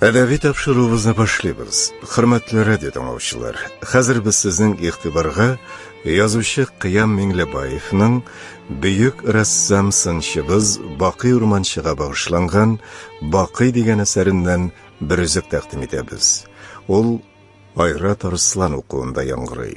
Әдәби тапшыруыбызны башлыйбыз. Хөрмәтле радио тыңлаучылар, хәзер без сезнең игътибарга язучы Кыям Миңлебаевның бөек рәссам сынчыбыз Бакый Урманчыга багышланган Бакый дигән әсәреннән бер үзек тәкъдим итәбез. Ул Айрат Арслан укуында яңгырый.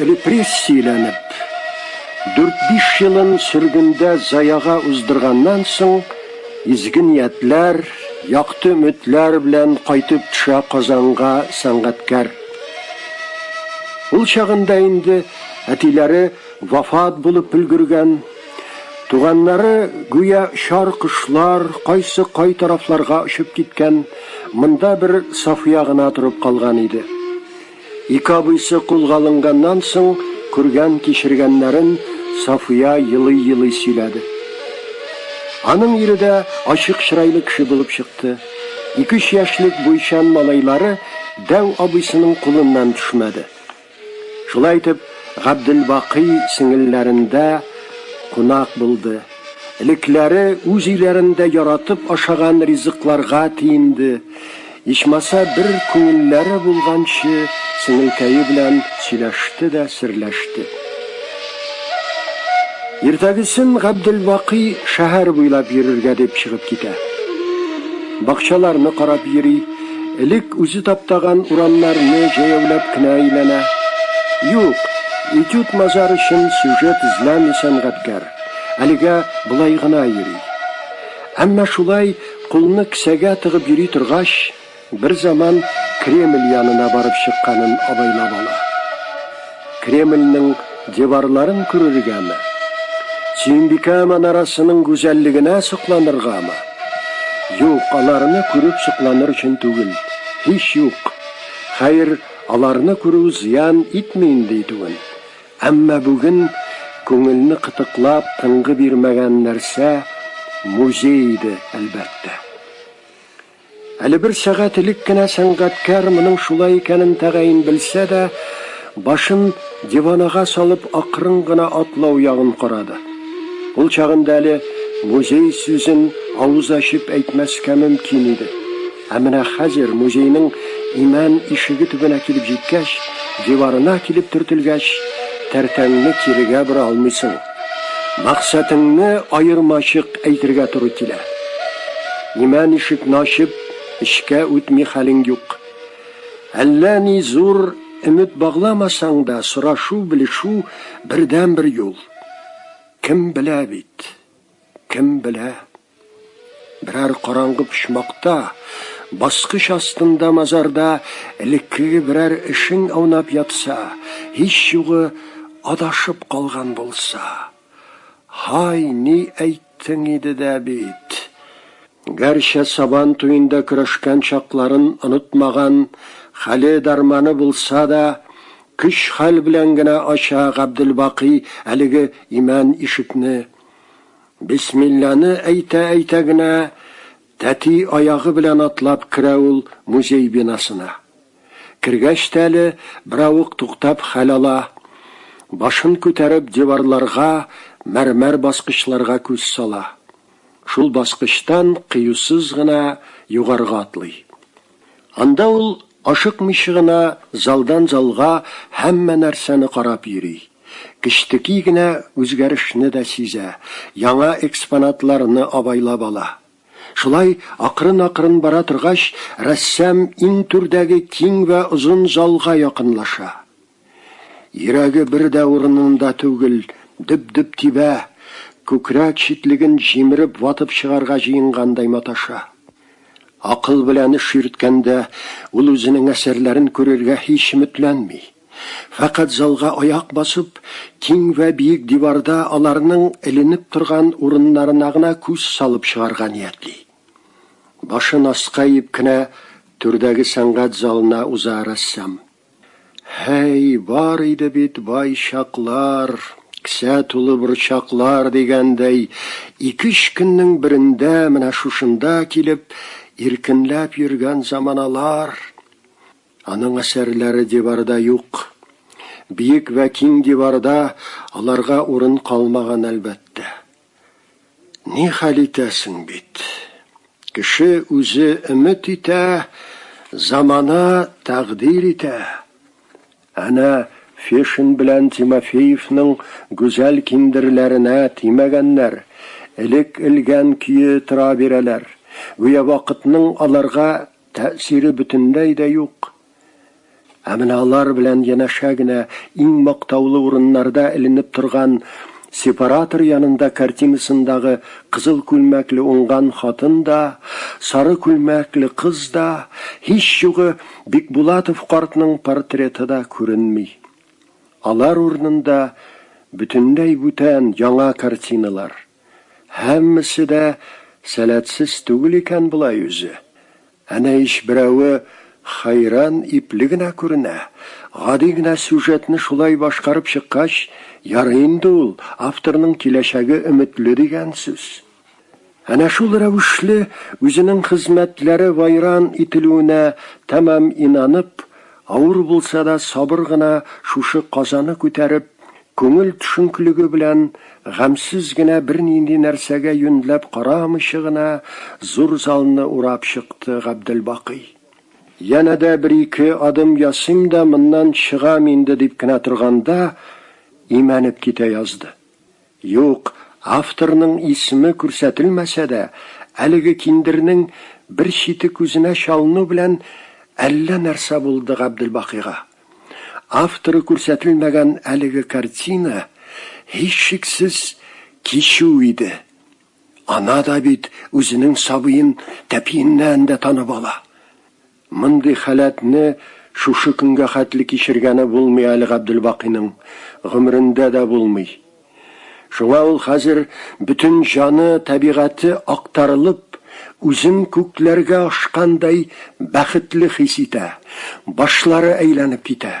Репрессияләнеп, дүрт-биш елын сөргендә заяга уздырганнан соң, изге ниятләр, якты өметләр белән кайтып төшә Казанга сәнгатькәр. Ул чагында инде әтиләре вафат булып өлгергән. Туганнары, гүя чар кошлар, кайсы кай тарафларга очып киткән, монда бер Сафия гына торып калган иде. Ике абыйсы кулга алынганнан соң күргән-кичергәннәрен Сафия елый-елый сөйләде. Аның ире дә ачык чырайлы кеше булып чыкты. Ике-өч яшьлек буйчан малайлары дәү абыйсының кулыннан төшмәде. Шулай итеп, Габделбакый сеңелләрендә кунак булды. Элекләре үз өйләрендә яратып ашаган ризыкларга тиенде. Ичмаса бер күңелләре булганчы сеңелкәе белән сөйләште дә серләште. Иртәгесен Габделбакый шәһәр буйлап йөрергә дип чыгып китә. Бакчаларны карап йөри, элек үзе таптаган урамнарны җәяүләп кенә әйләнә. Юк, этюд мазар өчен сюжет эзләми сәнгатькәр. Әлегә болай гына йөри. Әмма шулай Кулны кесәгә тыгып йөри торгач, берзаман Кремль янына барып чыкканын абайлап ала. Кремльнең диварларын күрергәме? Сөембикә манарасының гүзәллегенә сокланыргамы? Юк, аларны күреп сокланыр өчен түгел, һич юк. Хәер, аларны күрү зыян итми инде итүен. Әмма бүген күңелне кытыклап, тынгы бирмәгән нәрсә музей иде, әлбәттә. Әле бер сәгать элек кенә сәнгатькәр моның шулай икәнен тәгаен белсә дә, башын диванага салып акрын гына атлау ягын карады. Ул чагында әле музей сүзен авыз ачып әйтмәскә мөмкин иде. Ә менә хәзер, музейның имән ишеге төбенә килеп җиткәч, диварына килеп төртелгәч, тәртәңне кирегә бора алмыйсың. Максәтеңне аермачык әйтергә туры килә. Имән ишекне ачып, эчкә үтми хәлең юк. Әллә ни зур өмет багламасаң да, сорашу-белешү, бердәнбер юл. Кем белә бит, кем белә. Берәр караңгы почмакта, баскыч астында мазарда элеккеге берәр эшең аунап ятса, һич югы адашып калган булса. Һай, ни әйттең иде дә бит! Гәрчә Сабан туенда көрәшкән чакларын онытмаган, хәле-дарманы булса да, көч-хәл белән генә ача Габделбакый әлеге имән ишекне. Бисмилланы әйтә-әйтә генә тәти аягы белән атлап керә ул музей бинасына. Кергәч тә әле беравык туктап хәл ала, башын күтәреп диварларга, мәрмәр баскычларга күз сала. Шул баскычтан кыюсыз гына югарыга атлый. Анда ул ашыкмыйча гына залдан-залга һәммә нәрсәне карап йөри. Кечтеки генә үзгәрешне дә сизә, яңа экспонатларны абайлап ала. Шулай акрын-акрын бара торгач, рәссам иң түрдәге киң вә озын залга якынлаша. Йөрәге бер дә урынында түгел, дөп-дөп тибә, күкрәк читлеген җимереп ватып чыгарга җыенгандай маташа. Акыл белән эш йөрткәндә, ул үзенең әсәрләрен күрергә һич өметләнми. Фәкать залга аяк басып, киң вә биек диварда аларның эленеп торган урыннарына гына күз салып чыгарга ниятли. Башын аска иеп кенә түрдәге сәнгать залына уза рәссам. Һәй, бар иде бит бай чаклар, кесә тулы борчаклар дигәндәй, ике-өч көннең берендә менә шушында килеп, иркенләп йөргән заманалар. Аның әсәрләре диварда юк. Биек вә киң диварда аларга урын калмаган, әлбәттә. Ни хәл итәсең бит. Кеше үзе өмет итә, замана тәкъдир итә. Әнә Фешин белән Тимофеевның гүзәл киндерләренә тимәгәннәр, элек элгән көе тора бирәләр, гүя вакытның аларга тәэсире бөтенләй дә юк. Ә менә алар белән янәшә генә иң мактаулы урыннарда эленеп торган сепаратор янында картинасындагы кызыл күлмәкле уңган хатын да, сары күлмәкле кыз да, һич югы, Бикбулатов картның портреты да күренми. Алар урынында бөтенләй бүтән, яңа картиналар. Һәммәсе дә сәләтсез түгел икән болай үзе. Әнә ич берәве хәйран ипле генә күренә. Гади генә сюжетны шулай башкарып чыккач, ярый инде ул, авторның киләчәге өметле дигән сүз. Әнә шул рәвешле үзенең хезмәтләре вайран ителүенә тәмам инанып, авыр булса да сабыр гына шушы казаны күтәреп, Күңел төшенклеге белән, гамьсез генә бернинди нәрсәгә юньләп карамыйча гына зур залны урап чыкты Габделбакый. Янә дә бер-ике адым ясыйм да моннан чыгам инде дип кенә торганда, имәнеп китә язды. Юк, авторның исеме күрсәтелмәсә дә, әлеге киндернең бер чите күзенә чалыну белән әллә нәрсә булды Габделбакыйга. Авторы күрсәтелмәгән әлеге картина, һичшиксез, кичү иде. Ана да бит үзенең сабыен тәпиеннән дә танып ала. Мондый халәтне шушы көнгә хәтле кичергәне булмый әле Габделбакыйның, гомерендә дә булмый. Шуңа ул хәзер бөтен җаны, табигате актарылып, үзен күкләргә ашкандай бәхетле хис итә, башлары әйләнеп китә.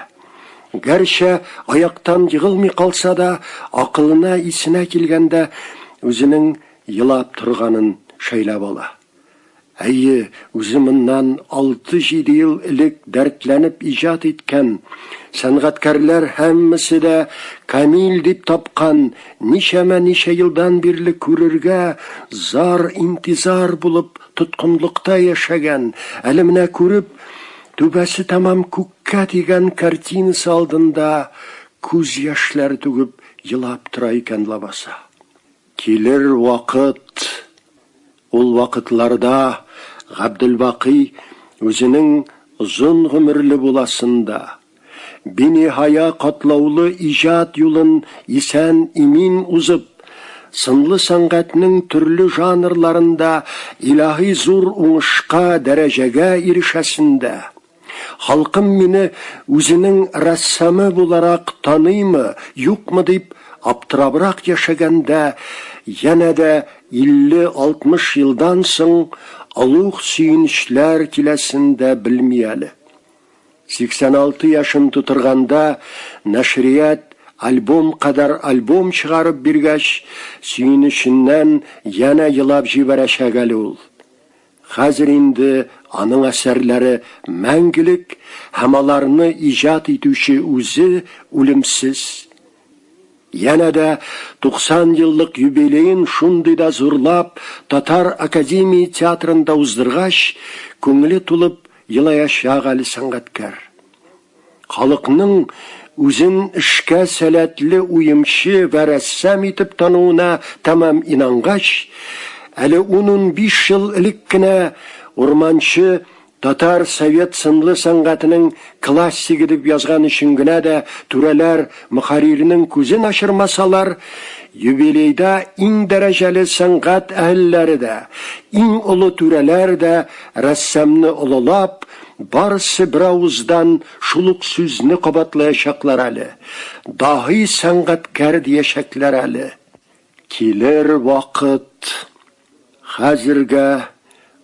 Гәрчә аяктан егылмый калса да, акылына, исенә килгәндә, үзенең елап торганын шәйләп ала. Әйе, үзе моннан алты-җиде ел элек дәртләнеп иҗат иткән, сәнгатькәрләр һәммәсе дә камил дип тапкан, ничәмә-ничә елдан бирле күрергә зар-интизар булып тоткынлыкта яшәгән, әле менә күреп, түбәсе тәмам күккә тигән картинасы алдында күз яшьләре түгеп елап тора икән лабаса. Килер вакыт! Ул вакытларда Габделбакый үзенең озын гомерле буласын да, биниһая катлаулы иҗат юлын исән-имин узып, сынлы сәнгатьнең төрле жанрларында илаһи зур уңышка, дәрәҗәгә ирешәсен дә, Халкым мине үзенең рәссамы буларак таныймы, юкмы дип аптырабрак яшәгәндә, янә дә 50-60 елдан соң олуг сөенечләр киләсен дә белми әле. 86 яшен тутырганда нәшрият альбом кадәр альбом чыгарып биргәч, сөенеченнән янә елап җибәрәчәк әле ул. Хәзер инде аның әсәрләре мәңгелек һәм аларны иҗат итүче үзе үлемсез. Янә дә 90 еллык юбилеен шундый да зурлап Татар академия театрында уздыргач, күңеле тулып елаячак әле сәнгатькәр. Халыкның үзен эшкә сәләтле уемчы вә рәссам итеп тануына тәмам инангач, әле ун-унбиш ел элек кенә Урманче татар совет сынлы сәнгатенең классигы дип язган өчен генә дә түрәләр мөхәрриренең күзен ачырмасалар, юбилейда иң дәрәҗәле сәнгать әһелләре дә, иң олы түрәләр дә рәссамны олылап, Барысы беравыздан шул ук сүзне кабатлаячаклар әле. Даһи сәнгатькәр диячәкләр әле. Килер вакыт. Хәзергә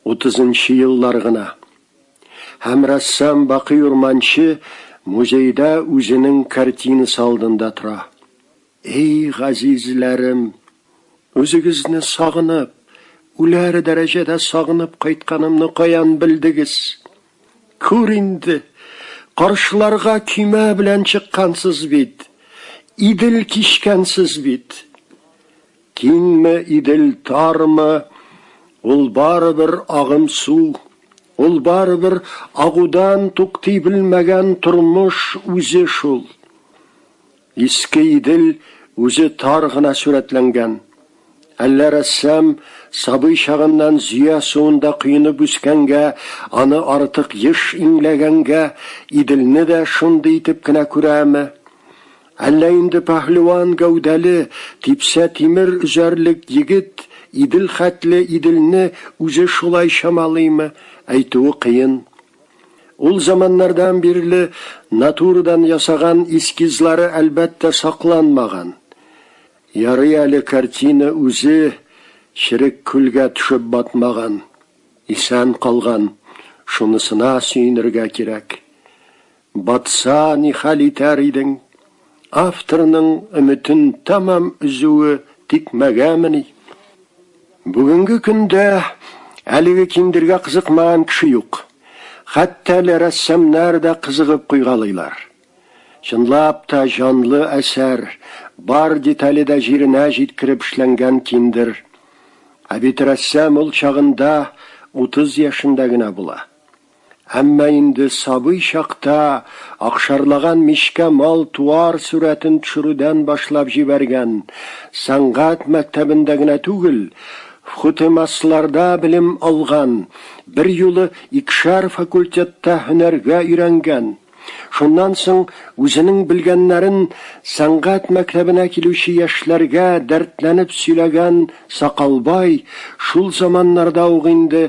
утызынчы еллар гына. Һәм рәссам Бакый Урманче музейда үзенең картинасы алдында тора. Эй, газизләрем! Үзегезне сагынып, үләр дәрәҗәдә сагынып кайтканымны каян белдегез? Күр инде, каршыларга көймә белән чыккансыз бит, Идел кичкәнсез бит. Киңме Идел, тармы, ул барыбер агым су, ул барыбер агудан туктый белмәгән тормыш үзе шул. Иске Идел үзе тар гына сурәтләнгән. Әллә рәссам сабый чагыннан Зөя суында коенып үскәнгә, аны артык еш иңләгәнгә, Иделне дә шундый итеп кенә күрәме? Әллә инде пәһлеван гәүдәле, типсә тимер өзәрлек егет Идел хәтле Иделне үзе шулай чамалыймы? Әйтүе кыен. Ул заманнардан бирле натурадан ясаган эскизлары, әлбәттә, сакланмаган. Ярый әле картина үзе черек күлгә төшеп батмаган, исән калган, шунысына сөенергә кирәк. Батса, ни хәл итәр идең? Авторның өметен тәмам өзүе тикмәгәмени? Бүгенге көндә әлеге киндергә кызыкмаган кеше юк. Хәтта әле рәссамнар да кызыгып куйгалыйлар. Чынлап та, җанлы әсәр, бар детале дә җиренә җиткереп эшләнгән киндер. Ә бит рәссам ул чагында 30 яшендә генә була. Әмма инде сабый чакта акшарлаган мичкә мал-туар сурәтен төшерүдән башлап җибәргән, сәнгать мәктәбендә генә түгел, ВХУТЭМАСларда белем алган, берьюлы икешәр факультетта һөнәргә өйрәнгән, Шуннан соң үзенең белгәннәрен сәнгать мәктәбенә килүче яшьләргә дәртләнеп сөйләгән Сакалбай шул заманнарда ук инде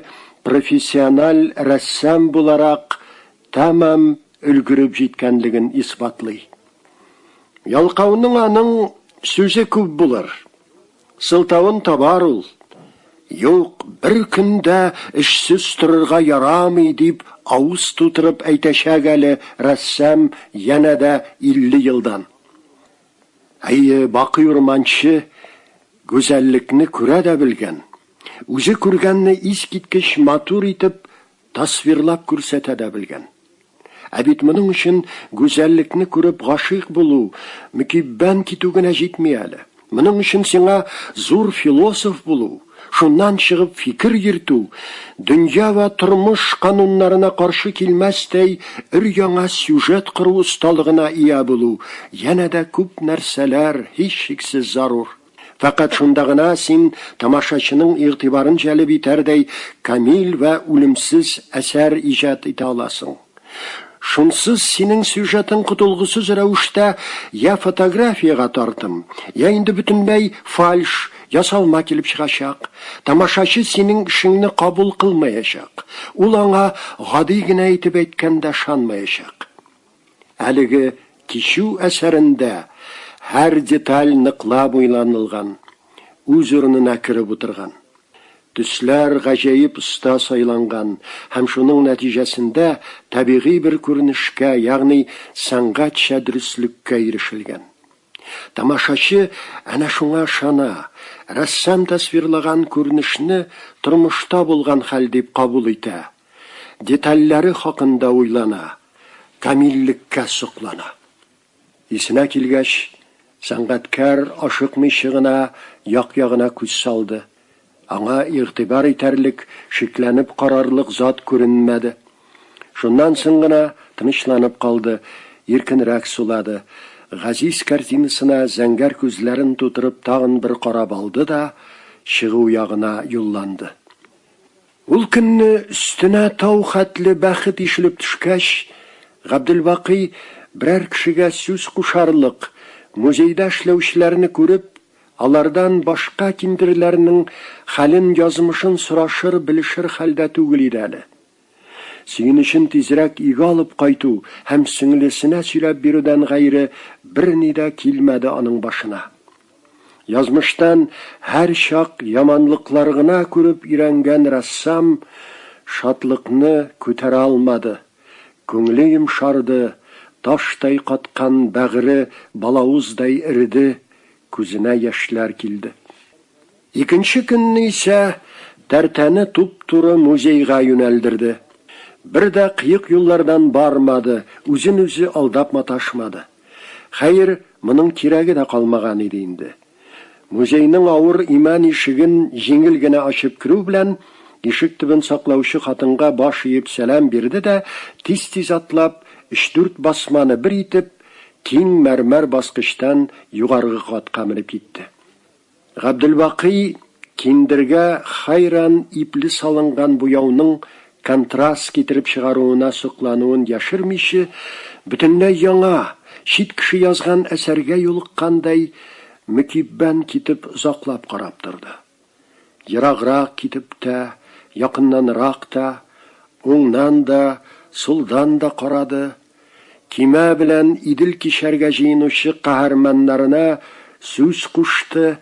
профессиональ рәссам буларак тәмам өлгереп җиткәнлеген исбатлый. Ялкауның аның сүзе күп булыр. Сылтавын табар ул. Юк, бер көндә эшсез торырга ярамый, дип авыз тутырып әйтәчәк әле рәссам янә дә 50 елдан. Әйе, бакый урманчы гүзәллекне күрә дә белгән. Үзе күргәнне искиткеч матур итеп Тасвирлап күрсәтә дә белгән. Ә бит моның өчен гүзәллекне күреп гашыйк булу, мөкиббән китү генә җитми әле. Моның өчен сиңа зур философ булу, шуннан чыгып фикер йөртү, дөнья вә тормыш кануннарына каршы килмәстәй өр-яңа сюжет кору осталыгына ия булу, янә дә күп нәрсәләр, һичшиксез, зарур. Фәкать шунда гына син тамашачының игътибарын җәлеп итәрдәй камил вә үлемсез әсәр иҗат итә аласың. Шунсыз синең сюжетың котылгысыз рәвештә йә фотографиягә тартым, йә инде бөтенләй фальш, ясалма килеп чыгачак. Тамашачы синең эшеңне кабул кылмаячак. Ул аңа гади генә итеп әйткәндә ышанмаячак. Әлеге кичү әсәрендә һәр деталь ныклап уйланылган, үз урынына кереп утырган. Төсләр гаҗәеп оста сайланган һәм шуның нәтиҗәсендә табигый бер күренешкә, ягъни сәнгатьчә дөреслеккә ирешелгән. Тамашачы әнә шуңа ышана, рәссам тасвирлаган күренешне тормышта булган хәл дип кабул итә, детальләре хакында уйлана, камиллеккә соклана. Исенә килгәч, сәнгатькәр ашыкмыйчы гына як-ягына күз салды. Аңа игътибар итәрлек, шикләнеп карарлык зат күренмәде. Шуннан соң гына тынычланып калды, иркенрәк сулады. Газиз картинасына зәңгәр күзләрен тутырып тагын бер карап алды да, чыгу ягына юлланды. Ул көнне өстенә тау хәтле бәхет ишелеп төшкәч, Габделбакый, берәр кешегә сүз кушарлык, музейда эшләүчеләрне күреп, Алардан башка киндерләрнең хәлен-язмышын сорашыр-белешер хәлдә түгел иде әле. Сөенечен тизрәк өйгә алып кайту һәм сеңлесенә сөйләп бирүдән гайре берни дә килмәде аның башына. Язмыштан һәрчак яманлыклар гына күреп өйрәнгән рәссам шатлыкны күтәрә алмады. Күңле йомшарды, таштай каткан бәгыре балавыздай эреде, күзенә яшьләр килде. Икенче көнне исә Тәртәне туп-туры музейга юнәлдерде. Бер дә кыек юллардан бармады, үзен-үзе алдап маташмады. Хәер, моның кирәге дә калмаган иде инде. Музейның авыр имән ишеген җиңел генә ачып керү белән, ишек төбен саклаучы хатынга баш иеп сәлам бирде дә, тиз-тиз атлап, өч-дүрт басманы бер итеп, киң мәрмәр баскычтан югаргы катка менеп китте. Габделбакый киндергә хәйран ипле салынган буяуның контраст китереп чыгаруына соклануын яшермиче, бөтенләй яңа, чит кеше язган әсәргә юлыккандай мөкиббән китеп озаклап карап торды. Ераграк китеп тә, якыннанрак та, уңнан да, сулдан да карады. Көймә белән Идел кичәргә җыенучы каһарманнарына сүз кушты,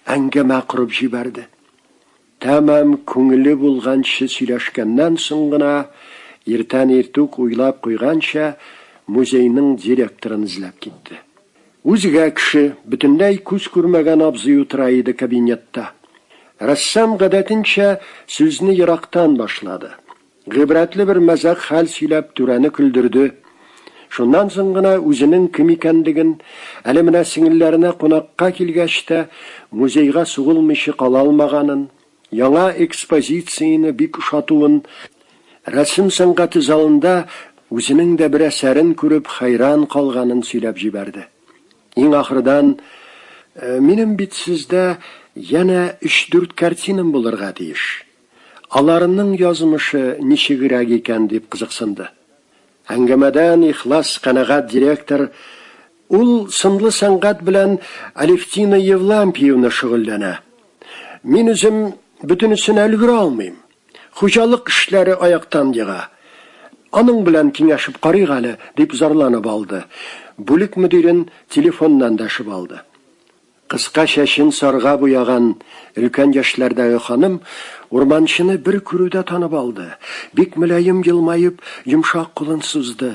әңгәмә корып җибәрде. Тәмам күңеле булганчы сөйләшкәннән соң гына, иртән иртүк уйлап куйганча, музейның директорын эзләп китте. Үзгә кеше, бөтенләй күз күрмәгән абзый утыра иде кабинетта. Рәссам, гадәтенчә, сүзне ерактан башлады. Гыйбрәтле бер мәзәк хәл сөйләп, түрәне көлдерде. Шуннан соң гына үзенең кем икәнлеген, әле менә сеңелләренә кунакка килгәч тә, музейга сугылмыйчы кала алмаганын, яңа экспозицияне бик ошатуын, рәсем сәнгате залында үзенең дә бер әсәрен күреп хәйран калганын сөйләп җибәрде. Иң ахырдан, Минем бит сездә янә өч-дүрт картинам булырга тиеш, Аларның язмышы ничегрәк икән дип кызыксынды. Әңгәмәдән ихлас канәгать директор Ул сынлы сәнгать белән Алевтина Евлампиевна шөгыльләнә. Мин үзем бөтенесенә өлгерә алмыйм. Хуҗалык эшләре аяктан ега. Аның белән киңәшеп карыйк әле, дип зарланып алды. Бүлек мөдирен телефоннан дәшеп алды. Кыска чәчен сарга буяган өлкән яшьләрдәге ханым урманчыны бер күрүдә танып алды, бик мөлаем елмаеп, йомшак кулын сузды.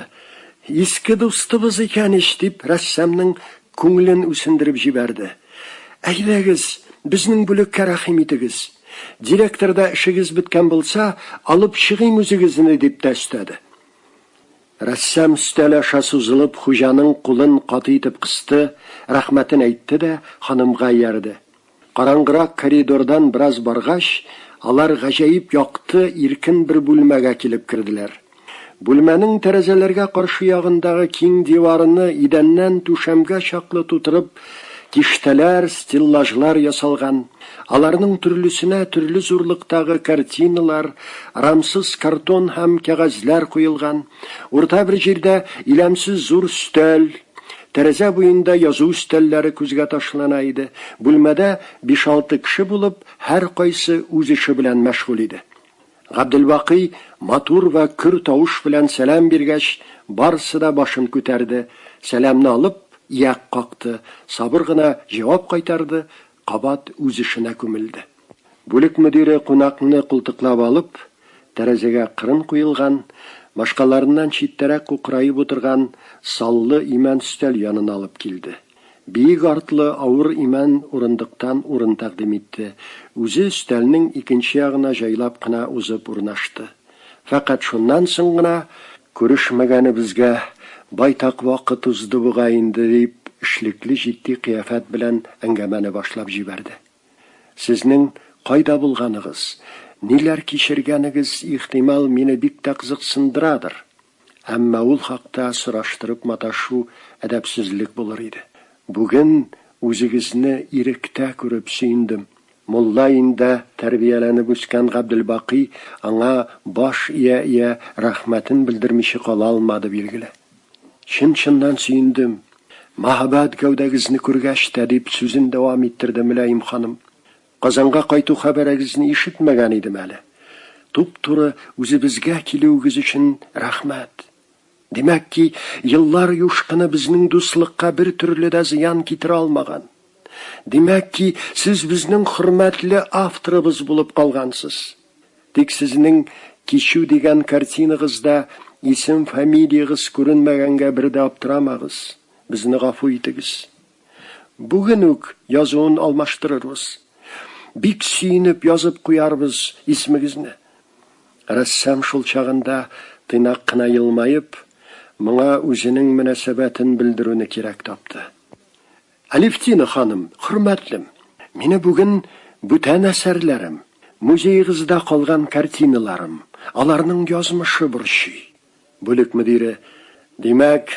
Иске дустыбыз икән ич! дип, рәссамның күңелен үсендереп җибәрде. Әйдәгез, безнең бүлеккә рәхим итегез. Директор да эшегез беткән булса, алып чыгыйм үзегезне, дип тә өстәде. Рәссам өстәл аша сузылып хуҗаның кулын каты итеп кысты, рәхмәтен әйтте дә ханымга иярде. Караңгырак коридордан бераз баргач, алар гаҗәеп якты, иркен бер бүлмәгә килеп керделәр. Бүлмәнең тәрәзәләргә каршы ягындагы киң диварыны идәннән түшәмгә чаклы тутырып, киштәләр, стеллажлар ясалган. Аларның төрлесенә төрле зурлыктагы картиналар, рамсыз картон һәм кәгазьләр куелган. Урта бер җирдә иләмсез зур өстәл, тәрәзә буенда язу өстәлләре күзгә ташлана иде. Бүлмәдә биш-алты кеше булып, һәркайсы үз эше белән мәшгуль иде. Габделбакый матур вә көр тавыш белән сәлам биргәч, барысы да башын күтәрде, сәламне алып, ияк какты, сабыр гына җавап кайтарды, Кабат үз эшенә күмелде. Бүлек мөдире кунакны култыклап алып, тәрәзәгә кырын куелган, башкаларыннан читтәрәк кукраеп утырган саллы имән өстәл янына алып килде. Биек артлы авыр имән урындыктан урын тәкъдим итте, үзе өстәлнең икенче ягына җайлап кына узып урнашты. Фәкать шуннан соң гына, Күрешмәгәнебезгә байтак вакыт узды бугай инде, дип, эшлекле җитди кыяфәт белән әңгәмәне башлап җибәрде. Сезнең кайда булганыгыз, ниләр кичергәнегез, ихтимал, мине бик тә кызыксындырадыр? Әмма ул хакта сораштырып маташу әдәпсезлек булыр иде. Бүген үзегезне иректә күреп сөендем. Мулла өендә тәрбияләнеп үскән Габделбакый аңа баш ия-ия рәхмәтен белдермиче кала алмады, билгеле. Чын-чыннан сөендем. Мәһабәт гәүдәгезне күргәч тә, дип сүзен дәвам иттерде Мөлаем ханым. Казанга кайту хәбәрегезне ишетмәгән идем әле. Туп-туры үзебезгә килүегез өчен рәхмәт. Димәк ки, еллар юшкыны безнең дуслыкка бер төрле дә зыян китерә алмаган. Димәк ки, сез безнең хөрмәтле авторыбыз булып калгансыз. Тик сезнең Кичү дигән картинагызда исем-фамилиягез күренмәгәнгә бер дә аптырамагыз. Безне гафу итегез. Бүген үк язуын алмаштырырбыз. Бик сөенеп язып куярбыз исмегезне. Рәссам шул чагында тыйнак кына елмаеп, моңа үзенең мөнәсәбәтен белдерүне кирәк тапты. Алевтина ханым, хөрмәтлем, мине бүген бүтән әсәрләрем, музеегызда калган картиналарым, аларның язмышы борчый. Бүлек мөдире. Димәк,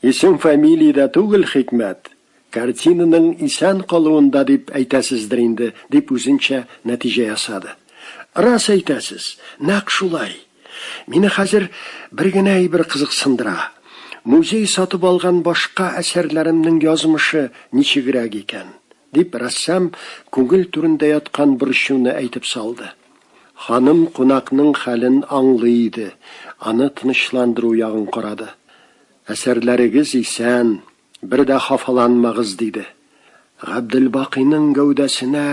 исем-фамилия дә түгел хикмәт, картинаның исән калуында дип әйтәсездер инде, дип үзенчә нәтиҗә ясады. Рас әйтәсез, нәкъ шулай. Мине хәзер бер генә әйбер кызыксындыра. Музей сатып алган башка әсәрләремнең язмышы ничегрәк икән? дип, рәссам күңел түрендә яткан борчуны әйтеп салды. Ханым кунакның хәлен аңлый иде, аны тынычландыру ягын карады. Әсәрләрегез исән, бер дә хафаланмагыз, диде. Габделбакыйның гәүдәсенә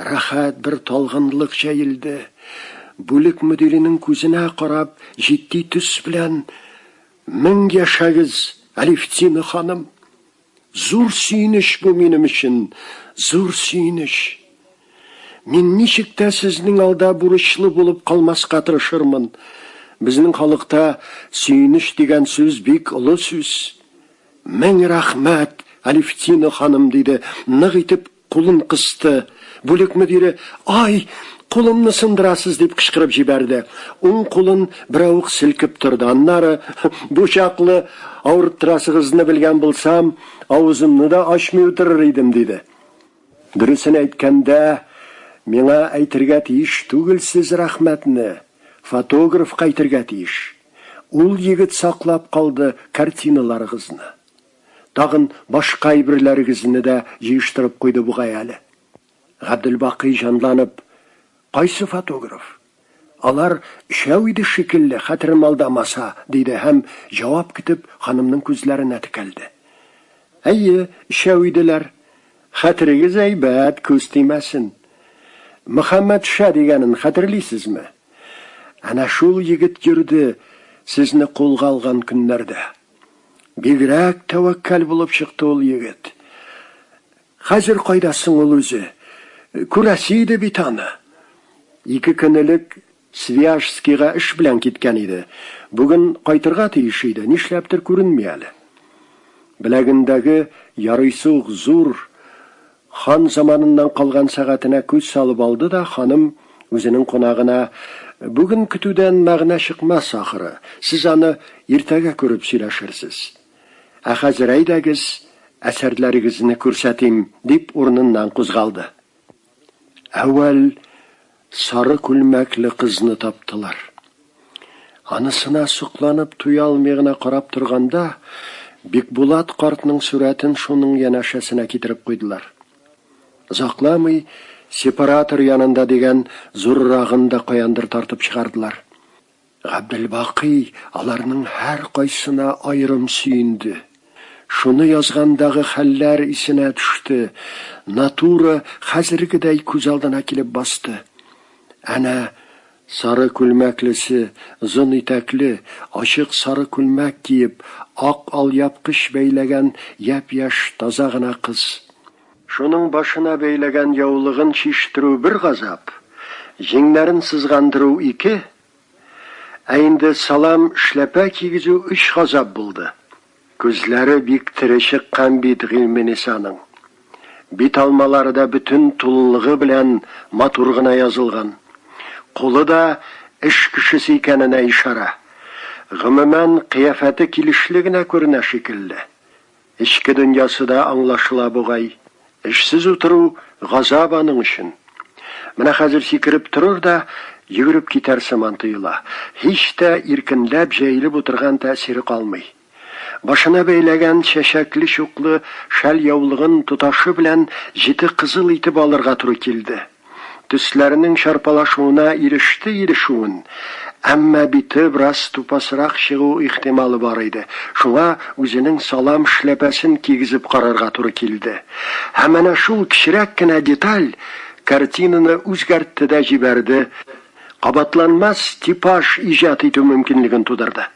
рәхәт бер талгынлык җәелде. Бүлек мөдиренең күзенә карап, җитди төс белән, Мең яшәгез, Алевтина ханым! Зур сөенеч бу минем өчен, зур сөенеч. Мин ничек тә сезнең алда бурычлы булып калмаска тырышырмын. Безнең халыкта сөенеч дигән сүз бик олы сүз. Мең рәхмәт, Алевтина ханым, диде, нык итеп Кулын кысты. Бүлек мөдире, Ай, кулымны сындырасыз, дип кычкырып җибәрде. Уң кулын берәү үк селкеп торды. Аннары, Бу чаклы авырттырасыгызны белгән булсам, авызымны да ачмый утырыр идем, диде. Дөресен әйткәндә, миңа әйтергә тиеш түгелсез рәхмәтне, фотографка әйтергә тиеш. Ул егет саклап калды картиналарыгызны. Тагын башка әйберләрегезне дә җыештырып куйды бугай әле. Габделбакый җанланып, Кайсы фотограф? Алар өчәү иде шикелле, хәтерем алдамаса, диде һәм, җавап көтеп, ханымның күзләренә текәлде. Әйе, өчәү иделәр. Хәтерегез әйбәт, күз тимәсен. Мөхәммәтша дигәнен хәтерлисезме? Әнә шул егет йөрде, сезне кулга алган көннәрдә. Бигрәк тәвәккәл булып чыкты ул егет. Хәзер кайда соң ул үзе? Күрәсе иде бит аны. Ике көн элек Свияжскига эш белән киткән иде. Бүген кайтырга тиеш иде, нишләптер күренми әле. Беләгендәге ярыйсы ук зур Хан заманыннан калган сәгатенә күз салып алды да, ханым, үзенең кунагына, Бүген көтүдән мәгънә чыкмас, ахры, сез аны иртәгә күреп сөйләшерсез. Ә хәзер әйдәгез, әсәрләрегезне күрсәтим, дип, урыныннан кузгалды. Әүвәл Сары күлмәкле кызны таптылар. Анысына сокланып туя алмый гына карап торганда, Бикбулат картның сурәтен шуның янәшәсенә китереп куйдылар. Озакламый сепаратор янында дигән зуррагын да каяндыр тартып чыгардылар. Габделбакый аларның һәркайсына аерым сөенде. Шуны язгандагы хәлләр исенә төште, натура хәзергедәй күз алдына килеп басты. Әнә, сары күлмәклесе, озын итәкле, ачык сары күлмәк киеп, ак алъяпкыч бәйләгән япь-яшь таза гына кыз. Шуның башына бәйләгән яулыгын чиштерү бер газап, җиңнәрен сызгандыру ике, ә инде салам эшләпә кигезү өч газап булды. Күзләре бик тере чыккан бит Гыйльменисаның. Бит алмалары да бөтен тулылыгы белән матур гына язылган. Кулы да эш кешесе икәненә ишарә. Гомумән, кыяфәте килешле генә күренә шикелле. Эчке дөньясы да аңлашыла бугай. Эшсез утыру, газап аның өчен. Менә хәзер сикереп торыр да, йөгереп китәр сыман тоела. Һич тә иркенләп җәелеп утырган тәэсире калмый. Башына бәйләгән чәчәкле-чуклы шәл-яулыгын тоташы белән җете кызыл итеп алырга туры килде. Төсләренең чарпалашуына иреште ирешүен, әмма бите бераз тупасрак чыгу ихтималы бар иде, шуңа үзенең салам шляпәсен кигезеп карарга туры килде. Һәм әнә шул кечерәк кенә деталь картинаны үзгәртте дә җибәрде, кабатланмас типаж иҗат итү мөмкинлеген тудырды.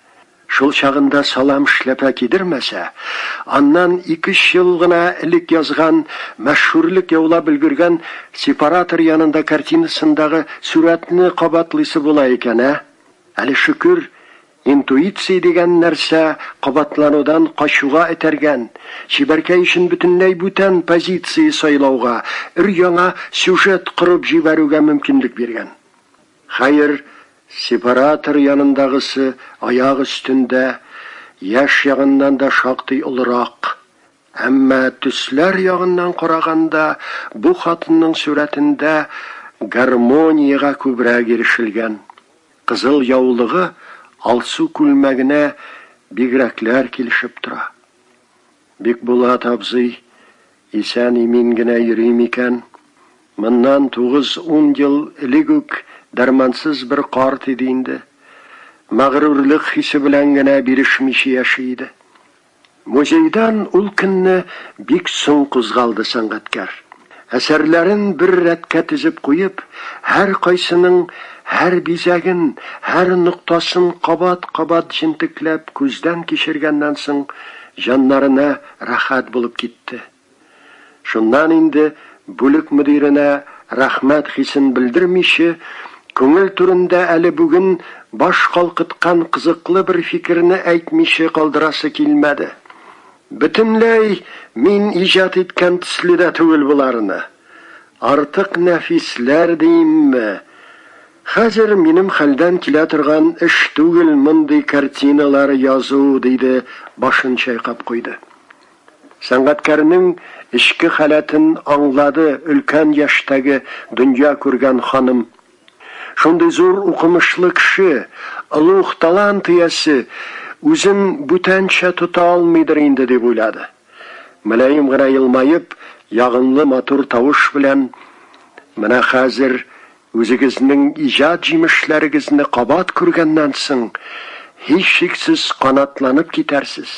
Шул чагында салам эшләпә кидермәсә, аннан ике-өч ел гына элек язган, мәшһүрлек яулап өлгергән Сепаратор янында картинасындагы сурәтне кабатлыйсы була икән, ә? Әле шөкер, интуиция дигән нәрсә кабатланудан качуга этәргән, чибәркәй өчен бөтенләй бүтән позиция сайлауга, өр-яңа сюжет корып җибәрүгә мөмкинлек биргән. Хәер, сепаратор янындагысы аяк өстендә, яшь ягыннан да шактый олырак. Әмма төсләр ягыннан караганда, бу хатынның сурәтендә гармониягә күбрәк ирешелгән. Кызыл яулыгы алсу күлмәгенә бигрәкләр килешеп тора. Бикбулат абзый исән-имин генә йөри микән? Моннан тугыз-ун ел элек үк дәрмансыз бер карт иде инде. Мәгърурлык хисе белән генә бирешмичә яши иде. Музейдан ул көнне бик соң кузгалды сәнгатькәр. Әсәрләрен бер рәткә тезеп куеп, һәркайсының һәр бизәген, һәр ноктасын кабат-кабат җентекләп күздән кичергәннән соң, җаннарына рәхәт булып китте. Шуннан инде, бүлек мөдиренә рәхмәт хисен белдермиче, күңел түрендә әле бүген баш калкыткан кызыклы бер фикерне әйтмиче калдырасы килмәде. Бөтенләй мин иҗат иткән төсле дә түгел боларны. Артык нәфисләр диимме. Хәзер минем хәлдән килә торган эш түгел мондый картиналар язу, диде, башын чайкап куйды. Сәнгатькәрнең эчке халәтен аңлады өлкән яшьтәге дөнья күргән ханым. Шундый зур укымышлы кеше, олуг талант иясе үзен бүтәнчә тота алмыйдыр инде, дип уйлады. Мөлаем гына елмаеп, ягымлы матур тавыш белән, Менә хәзер үзегезнең иҗат җимешләрегезне кабат күргәннән соң, һичшиксез канатланып китәрсез.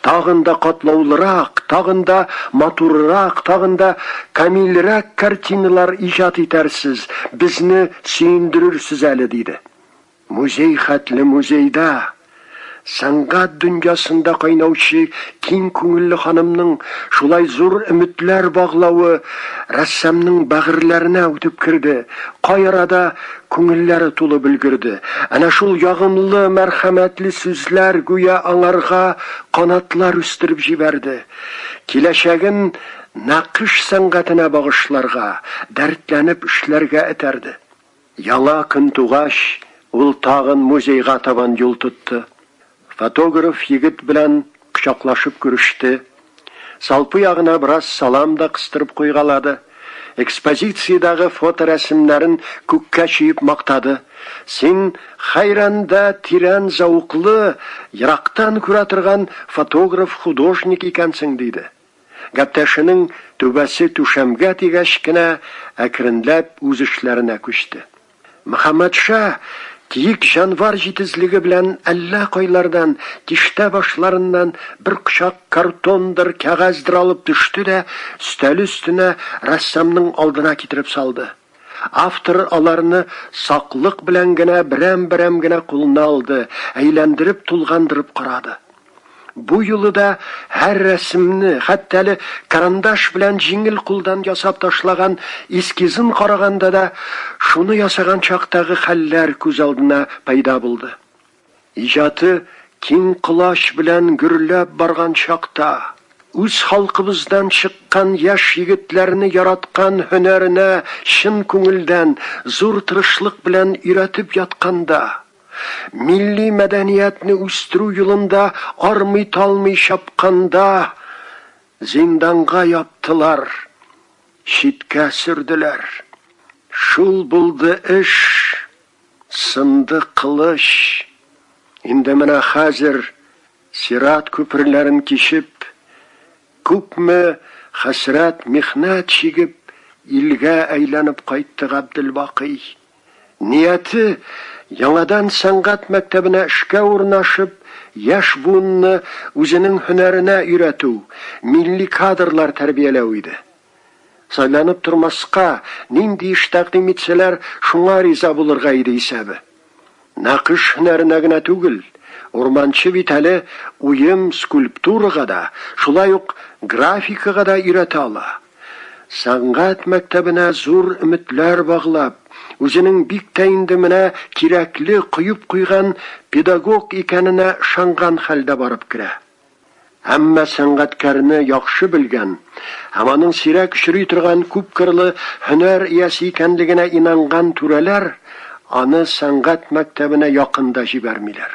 Тагын да катлаулырак, тагын да матурырак, тагын да камилрәк картиналар иҗат итәрсез, безне сөендерерсез әле, диде. Музей хәтле музейда, сәнгать дөньясында кайнаучы киң күңелле ханымның шулай зур өметләр баглавы рәссамның бәгырьләренә үтеп керде, кай арада Күңелләре тулып өлгерде. Әнә шул ягымлы, мәрхәмәтле сүзләр гүя аңарга канатлар үстереп җибәрде. Киләчәген нәкыш сәнгатенә багышларга, дәртләнеп эшләргә этәрде. Яңа көн тугач, ул тагын музейга табан юл тотты. Фотограф егет белән кочаклашып күреште, салпы ягына бераз салам да кыстырып куйгалады, экспозициядәге фоторәсемнәрен күккә чөеп мактады, Син хәйран да тирән зәвыклы, ерактан күрә торган фотограф-художник икәнсең, диде. Гәптәшенең түбәсе түшәмгә тигәч кенә әкренләп үз эшләренә күчте. Мөхәммәтша киек җанвар җитезлеге белән әллә кайлардан, тиштә башларыннан бер кочак картондыр, кәгазьдер алып төште дә өстәл өстенә, рәссамның алдына китереп салды. Автор аларны саклык белән генә берәм-берәм генә кулына алды, әйләндереп-тулгандырып карады. Бу юлы да һәр рәсемне, хәтта әле карандаш белән җиңел кулдан ясап ташлаган эскизын караганда да, шуны ясаган чактагы хәлләр күз алдына пәйда булды. Иҗаты киң колач белән гөрләп барган чакта, үз халкыбыздан чыккан яшь егетләрне яраткан һөнәренә чын күңелдән, зур тырышлык белән өйрәтеп ятканда, Милли мәдәниятне үстерү юлында армый-талмый чапканда, зинданга яптылар, читкә сөрделәр. Шул булды эш, сынды кылыч. Инде менә хәзер, сират күперләрен кичеп, күпме хәсрәт-михнәт чигеп, илгә әйләнеп кайтты Габделбакый. Нияте, яңадан сәнгать мәктәбенә эшкә урнашып, яшь буынны үзенең һөнәренә өйрәтү, милли кадрлар тәрбияләү иде. Сайланып тормаска, нинди эш тәкъдим итсәләр, шуңа риза булырга иде исәбе. Нәкыш һөнәренә генә түгел, Урманче бит әле уем, скульптурага да, шулай ук графикага да өйрәтә ала. Сәнгать мәктәбенә зур өметләр баглап, үзенең бик тә инде менә кирәкле коеп куйган педагог икәненә ышанган хәлдә барып керә. Әмма сәнгатькәрне яхшы белгән һәм аның сирәк очрый торган күпкырлы һөнәр иясе икәнлегенә инанган түрәләр аны сәнгать мәктәбенә якын да җибәрмиләр.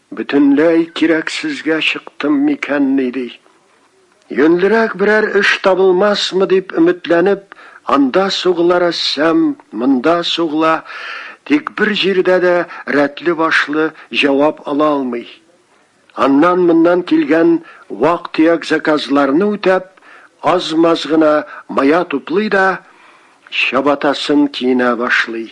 Бөтенләй кирәксезгә чыктым микәнни ди. Юньлерәк берәр эш табылмасмы дип өметләнеп, анда сугыла рәссам, монда сугыла, тик бер җирдә дә рәтле-башлы җавап ала алмый. Аннан-моннан килгән вак-төяк заказларны үтәп, аз-маз гына мая туплый да, чабатасын киенә башлый.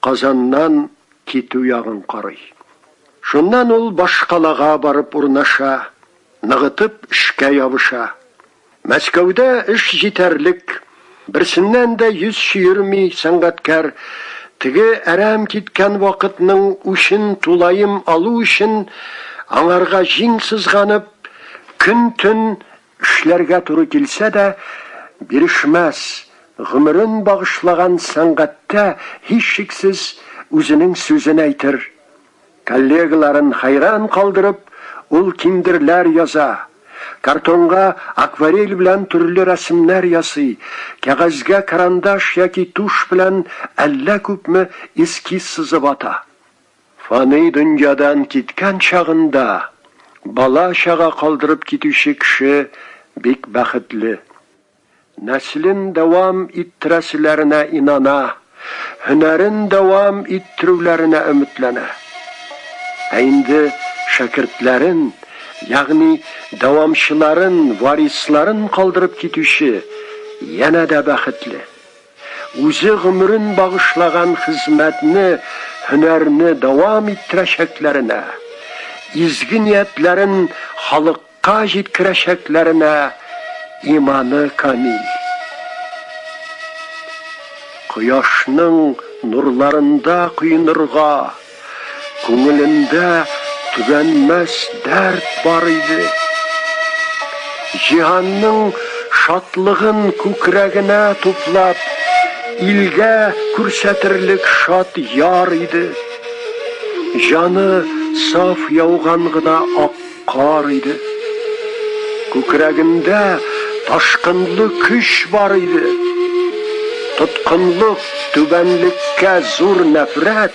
Казаннан китү ягын карый. Шуннан ул башкалага барып урнаша, ныгытып эшкә ябыша. Мәскәүдә эш җитәрлек, берсеннән дә йөз чөерми сәнгатькәр, теге әрәм киткән вакытның үчен тулаем алу өчен, аңарга җиң сызганып, көн-төн Эшләргә туры килсә дә, бирешмәс, гомерен багышлаган сәнгатьтә, һичшиксез, үзенең сүзен әйтер. Коллегаларын хәйран калдырып, ул киндерләр яза, картонга акварель белән төрле рәсемнәр ясый, кәгазьгә карандаш яки тушь белән әллә күпме эскиз сызып ата. Фани дөньядан киткән чагында, бала-чага калдырып китүче кеше бик бәхетле. Нәселен дәвам иттерәселәренә инана, һөнәрен дәвам иттерүләренә өметләнә. Ә инде шәкертләрен, ягъни дәвамчыларын, варисларын калдырып китүче янә дә бәхетле. Үзе гомерен багышлаган хезмәтне, һөнәрне дәвам иттерәчәкләренә, изге ниятләрен халыкка җиткерәчәкләренә иманы камил. Кояшның нурларында коенырга. Күңелендә төганмәс дәрт бар иде. Җиһанның шатлыгын күкрәгенә туплап, илгә күрсәтерлек шат яр иде. Җаны саф яуган гына ак кар иде. Күкрәгендә ташкынлы көч бар иде. Тоткынлык, түбәнлеккә зур нәфрәт,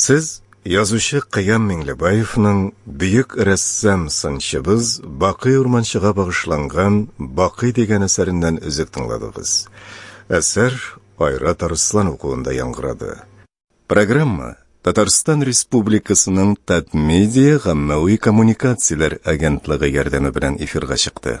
Сез язучы Кыям Миңлебаевның бөек рәссам сынчыбыз Бакый Урманчыга багышланган Бакый дигән әсәреннән өзек тыңладыгыз. Әсәр Айрат Арыслан укуында яңгырады. Программа Татарстан Республикасының Татмедиа гаммәви коммуникацияләр агентлыгы ярдәме белән эфирга чыкты.